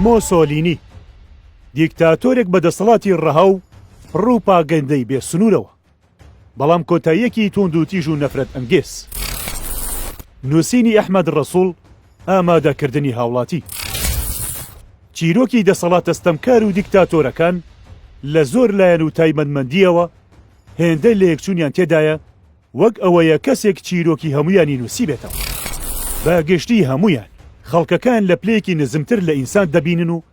مۆسۆلینی، دیکتاتۆرێک بە دەسەڵاتی ڕەها و پڕوپاگەندەی بێ سنوورەوە، بەڵام کۆتاییەکی تووندوتیژ و نەفرەتئەنگێز. نووسینی ئەحمەد ڕەسووڵ، ئامادەکردنی هاوڵاتی. چیرۆکی دەسەڵاتە ستەمکار و دیکتاتۆرەکان لە زۆر لایەن و تایبەتمەندییەوە هێندە لەیەکچوونیان تێدایە وەک ئەوەیە کەسێک چیرۆکی هەموویانی نووسیبێتەوە. بە گشتی هەموویان، خەڵکەکان لە پلەیەکی نزمتر لە ئینسان دەبینن و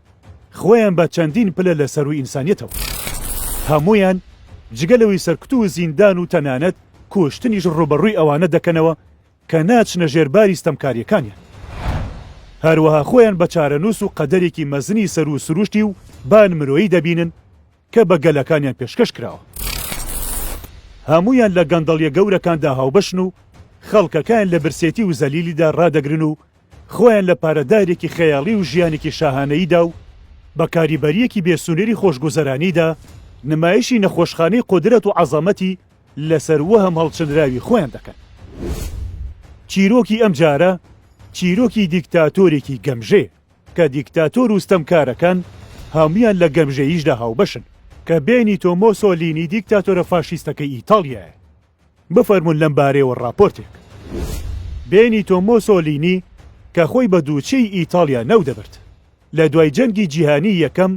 خۆیان بە چەندین پلە لە سەرووی ئینسانیەتەوە. هەموویان جگە لەوەی سەرکوت و زیندان و تەنانەت کوشتنیش ڕووبەڕووی ئەوانە دەکەنەوە کە ناچنە ژێر باری ستەمکاریەکانیان. هەروەها خۆیان بە چارەنووس و قەدەرێکی مەزنی سەروو سروشتی و بان مرۆیی دەبینن، کە بە گەلەکانیان پێشکەش کراوە. هەموویان لە گەندەڵیە گەورەکاندا هاوبەشن و خەڵکەکەیان لە برسێتی و زەلیلیدا ڕادەگرن و خۆیان لە پارەدارێکی خەیاڵی و ژیانێکی شاهانەییدا و بە کاریبەریەکی بێ سنوری خۆشگوزەرانیدا نمایشی نەخۆشخانەی قودرەت و عەزەمەتی لەسەر وەهم هەڵچنراوی خۆیان دەکەن. چیرۆکی ئەمجارە چیرۆکی دیکتاتۆرێکی گەمژەیە. کە دیکتاتۆر و ستەمکارەکان هەموویان لە گەمژەییشدا هاوبەشن، کە بێنیتۆ مۆسۆلینی دیکتاتۆرە فاشیستەکەی ئیتاڵیایە. بفەرموون لەم بارەیەوە ڕاپۆرتێک. بێنیتۆ مۆسۆلینی کە خۆی بە دووچیی ئیتاڵیا ناو دەبرد، لە دوای جەنگی جیهانیی یەکەم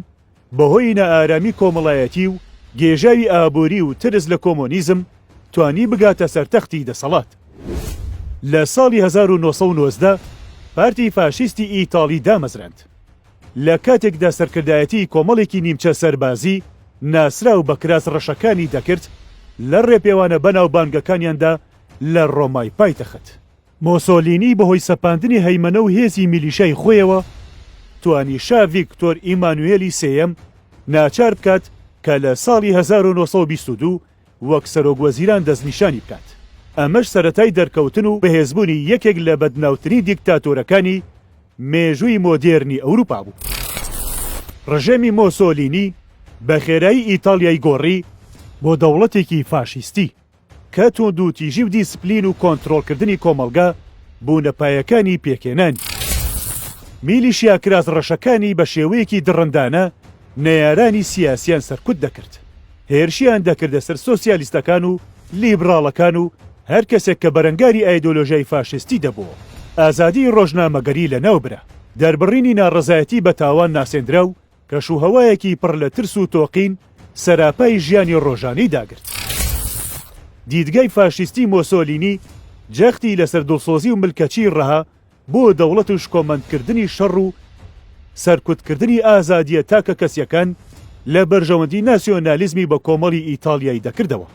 بەهۆی نائارامی کۆمەڵایەتی و گێژاوی ئابووری و ترس لە کۆمۆنیزم توانی بگاتە سەر تەختی دەسەڵات. لە ساڵی هەزار و نۆ سەد و نۆزدە پارتی فاشیستی ئیتاڵی دامەزراند. لە کاتێکدا سەرکردایەتی کۆمەڵێکی نیمچە سەربازی ناسراو بە کراس ڕەشەکانی دەکرد لە ڕێپێوانە بەناوبانگەکانیاندا لە ڕۆمای پایتەخت. مۆسۆلینی بەهۆی سەپاندنی هەیمەنە و هێزی میلیشای خۆیەوە توانی شا ڤیکتۆر ئیمانوێلی سێیەم ناچار بکات کە لە ساڵی هەزار و نۆ سەد و بیست و دوو وەک سەرۆکوەزیران دەستنیشانی بکات، ئەمەش سەرەتای دەرکەوتن و بەهێزبوونی یەکێک لە بەدناوترین دیکتاتۆرەکانی مێژووی مۆدێرنی ئەوروپا بوو. ڕژێمی مۆسۆلینی بە خێرایی ئیتاڵیای گۆڕی بۆ دەوڵەتێکی فاشیستی. کە توندوتیژی و دیسپلین و کۆنترۆڵکردنی کۆمەڵگە بوونە پایەکانی پێکهێنانی میلیشیا کراس ڕەشەکانی بە شێوەیەکی دڕندانە نەیارانی سیاسیان سەرکوت دەکرد هێرشیان دەکردە سەر سۆسیالیستەکان و لیبڕاڵەکان و هەر کەسێک کە بەرەنگاری ئایدۆلۆژیای فاشیستی دەبوو ئازادی ڕۆژنامەگەری لەناوبرا دەربڕینی ناڕەزایەتی بە تاوان ناسێندرا و کەشوهەوایەکی پڕ لە ترس و تۆقین سەراپای ژیانی ڕۆژانەی داگرت. دیدگای فاشیستی مۆسۆلینی جەختی لەسەر دڵسۆزی و ملکەچی ڕەها بۆ دەوڵەت و شکۆمەندکردنی شەڕ و سەرکوتکردنی ئازادییە تاکەکەسییەکان لە بەرژەوەندی ناسیۆنالیزمی بەکۆمەڵی ئیتاڵیای دەکردەوە.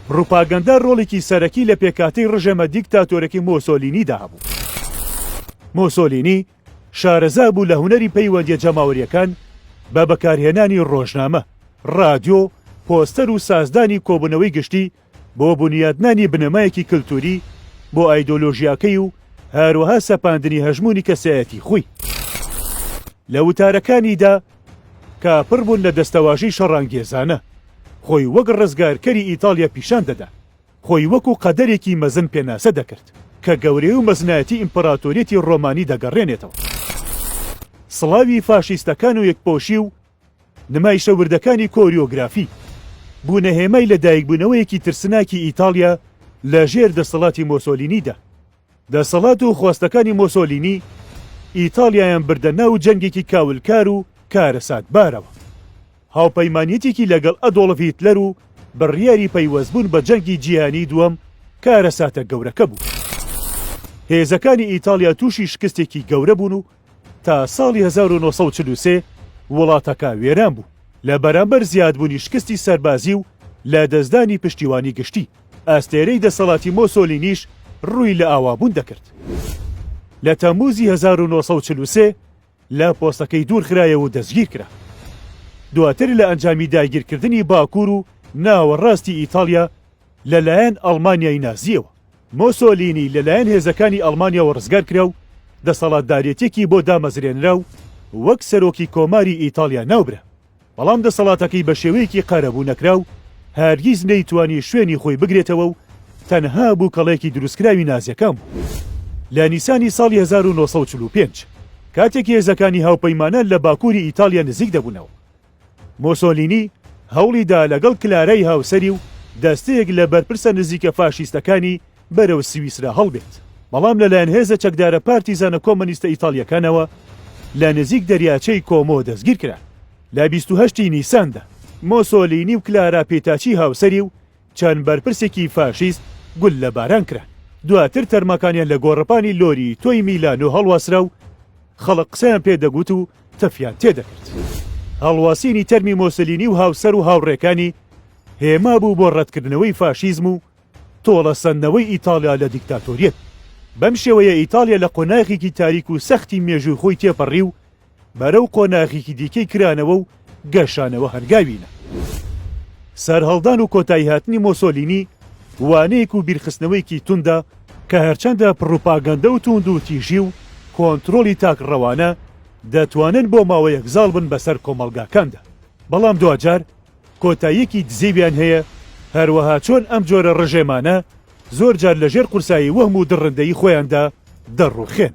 پڕوپاگەندە ڕۆڵێکی سەرەکی لە پێکهاتەی ڕژێمە دیکتاتۆرەکەی مۆسۆلینیدا هەبوو. مۆسۆلینی شارەزا بوو لە هونەری پەیوەندییە جەماوەرییەکان بە بەکارهێنانی ڕۆژنامە، ڕادیۆ، پۆستەر و سازدانی کۆبوونەوەی گشتی بۆ بونیادنانی بنەمایەکی کلتووری بۆ ئایدۆلۆژیاکەی و هەروەها سەپاندنی هەژموونی کەسایەتی خۆی. لە وتارەکانیدا کە پڕ بوون لە دەستەواژەی شەڕانگێزانە، خۆی وەک ڕزگارکەری ئیتاڵیا پیشان دەدا. خۆی وەکو قەدەرێکی مەزن پێناسە دەکرد، کە گەورەی و مەزنایەتی ئیمپراتۆریەتی ڕۆمانی دەگەڕێنێتەوە. سڵاوی فاشیستەکان و یەکپۆشی و نمایشە وردەکانی کۆریۆگرافی، بوونە هێمای لەدایکبوونەوەیەکی ترسناکی ئیتاڵیا لەژێر دەسەڵاتی مۆسۆلینیدا. دەسەڵات و خواستەکانی مۆسۆلینی ئیتاڵیایان بردە ناو جەنگێکی کاولکار و کارەساتبارەوە. هاوپەیمانیەتێکی لەگەڵ ئەدۆڵف هیتلەر و بڕیاری پەیوەستبوون بە جەنگی جیهانیی دووەم کارەساتە گەورەکە بوو. هێزەکانی ئیتاڵیا تووشی شکستێکی گەورە بوون و تا ساڵی هەزار و نۆ سەد و چل و سێ وڵاتەکە وێران بوو لە بەرامبەر زیادبوونی شکستی سەربازی و لە دەستدانی پشتیوانی گشتی، ئەستێرەی دەسەڵاتی مۆسۆلینیش ڕووی لە ئاوابوون دەکرد. لە تەممووزی هەزار و نۆ سەد و چل و سێ لە پۆستەکەی دوورخرایەوە و دەستگیر کرا. دواتر لە ئەنجامی داگیرکردنی باکوور و ناوەڕاستی ئیتاڵیا، لەلایەن ئەڵمانیای نازییەوە. مۆسۆلینی لەلایەن هێزەکانی ئەڵمانیاوە ڕزگار کرا و دەسەڵاتدارێتییەکی بۆ دامەزرێنرا و وەک سەرۆکی کۆماری ئیتاڵیا ناوبرا. بەڵام دەسەڵاتەکەی بە شێوەیەکی قەرەبوو نەکرا و هەرگیز نەیتوانی شوێنی خۆی بگرێتەوە و تەنها بووکەڵەیەکی دروستکراوی نازییەکان بوو. لە نیسانی ساڵی هەزار و نۆ سەد و چل و پێنج کاتێک هێزەکانی هاوپەیمانان لە باکووری ئیتاڵیا نزیک دەبوونەوە، مۆسۆلینی هەوڵی دا لەگەڵ کلارای هاوسەری و دەستەیەک لە بەرپرسە نزیکە فاشیستەکانی بەرەو سویسرا هەڵبێت، بەڵام لەلایەن هێزە چەکدارە پارتیزانە کۆمۆنیستە ئیتاڵییەکانەوە لە نزیک دەریاچەی کۆمۆ دەستگیرکران لە بیست و هەشت ی نیساندا. مۆسۆلینی و کلارا پیتاچی هاوسەری و چەند بەرپرسێکی فاشیست گوللە باران کران، دواتر تەرماکانیان لە گۆڕەپانی لۆری تۆی میلانۆ هەڵواسرا و خەڵک قسەیان پێ دەگوت و تفیان تێ دەکرد. هەڵواسینی تەرمی مۆسلینی و هاوسەر و هاوڕێکانی هێما بوو بۆ ڕەتکردنەوەی فاشیزم و تۆڵە سەندنەوەی ئیتاڵیا لە دیکتاتۆریەت. بەم شێوەیە ئیتاڵیا لە قۆناغێکی تاریک و سەختی مێژووی خۆی تێپەڕی و بەرەو قۆناغیکی دیکەی کرانەوە و گەشانەوە هەنگاوینە. سەرهەڵدان و کۆتایی هاتنی مۆسۆلینی وانەیەک و بیرخستنەوەیەکی توندە کە هەرچەندە پڕوپاگەندە و توندوتیژی و کۆنترۆڵی تاک ڕەوانە دەتوانن بۆ ماوەیەک زاڵ بن بەسەر کۆمەڵگاکاندا بەڵام دواجار کۆتاییەکی دزێویان هەیە هەروەها چۆن ئەم جۆرە ڕژێمانە زۆر جار لەژێر قورسایی وەهم و دڕندەیی خۆیاندا دەڕوخێن.